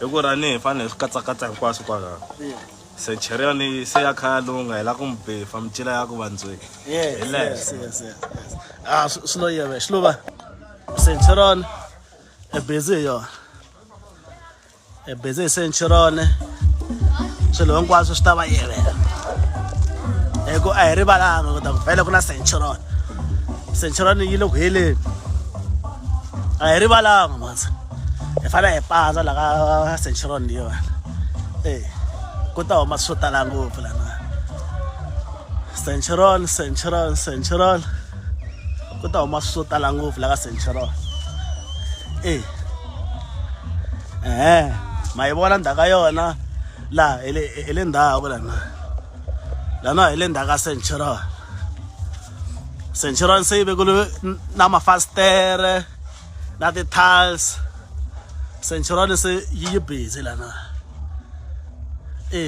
hi ku rani hi fanele hi swi katsakatsa hinkwaswo kwalaho centurion se ya khaya lowu nga hela ku mi befa micila ya ku vandzweni hi leswo a swi lo yeve xi lova centurion e busy hi yona e busy hi centurion swilo hinkwaswo swi ta va yevela hi ku a hi rivalanga ku ta ku vele ku na centurion centurion yi le ku heleni a hi rivalanga mansa hi fanele hi pandza la ka centuron leyiwani e ku ta huma swo tala ngopfu lana centuron centuron centuron ku ta huma swo tala ngopfu la ka centuron e ehe ma yi vona ndhaka yona laha hi le ndhaku lana lana hi le ndhaka centuron centuron se yi vekulu na mafasitere na ti-tiles centurone se yi yi busy lana e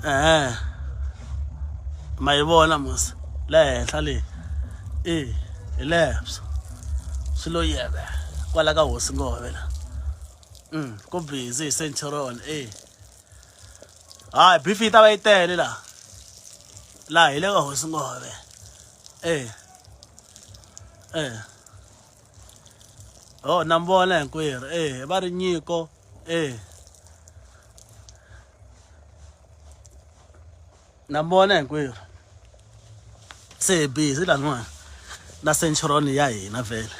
ehe ma yi vona mos le henhla leyi e hi lebso swi lo yeve kwala ka hosi ngove la um ku busy hi centurone e hayi bifi yi ta va yi tele la laha hi le ka hosi ngove Eh. Eh. Oh, na mi vona hinkwerhu. Eh, va ri nyiko. Eh. Na mi vona hinkwerhu. Se hi busy laniwani na centuron ya hina vhele.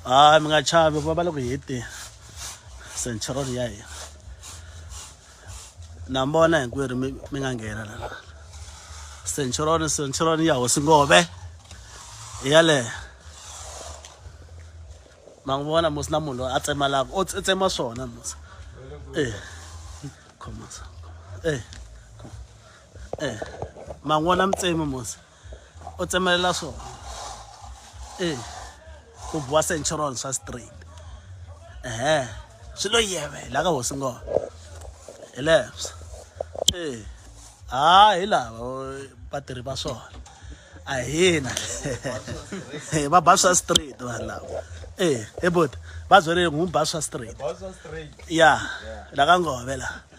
Hayi mi nga chavi va va le ku heteni centuron ya hina. na mi vona hinkwerhu mi mi nga nghena la centuroni centuroni ya hosi ngove hi yaleyo ma n'wi vona musi na munhu loyi a tsemalaka o tsema swona musi e khomasa e e ma n'wi vona mi tsemi musi u tsemelela swona e ku biwa central swa straight ehe swi lo yevela ka hosi ngona hi leswo e ha hi lava vatirhi va swona a hina va ba swa straight vanhu lava e he boti va byele n'wi ba swa straight ya la ka ngove laha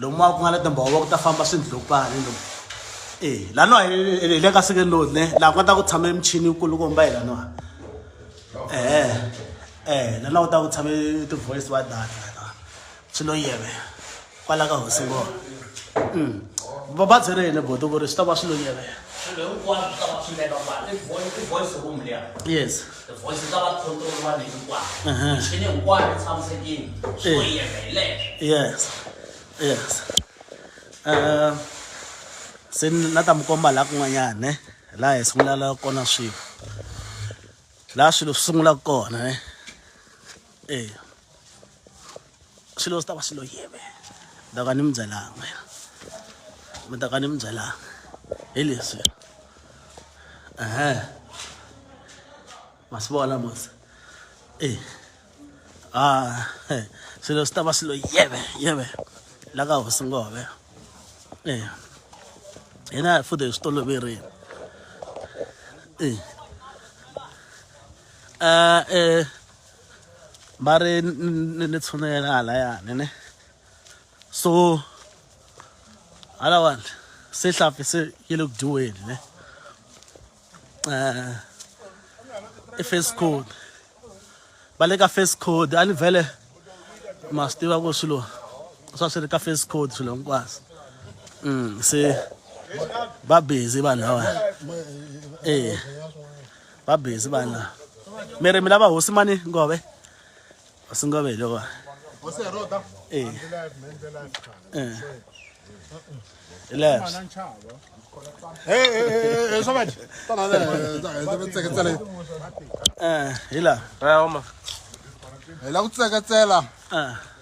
lomuwa ku nga na timbhovo ku ta famba swindlopani lomu e eh, laniwa hi le ka sekeni lowu ne laha ku nga ta ku tshame michini kulukumba hi laniwa e eh, e eh, laniwa ku ta ku tshame ti-voice wa data swi lo yeve kwala ka hosi ngo mm. va va byere yini boto ku ri swi ta va swi lo yeve yes Tivhoyisi ta va control vanhu hinkwavo. Michini hinkwayo yi tshamisekile. Swo Eh. yeka hi leswo. yes yes um se ni- na ta mi komba laha kun'wanyana ne laha hi sungulala kona swilo laha swilo swi sungulaka kona ne eya swilo swi ta va swi lo yeme ni ta ka ni mi byelanga mi ta ka ni mi byelanga hi leswi ehe ma swi vona mos e a swilo swi ta va swi lo yeme yeme la ka hosi ngove e hina hi fude hi swi toloverini e a e ba re le tshwanela hala yane ne so hala one se hlapi se ke le kudiweni ne eh i first code ba le ka first code a ni vele ma swi tiva ku swilo swa swi ri ka first code swilo hinkwaswo mm se ba busy vanhu lava eh va busy vanhu lava mi ri mi lava hosi mani ngove hosi ngove hi lowa hosi hi roda e hi laha hi lava ku tseketsela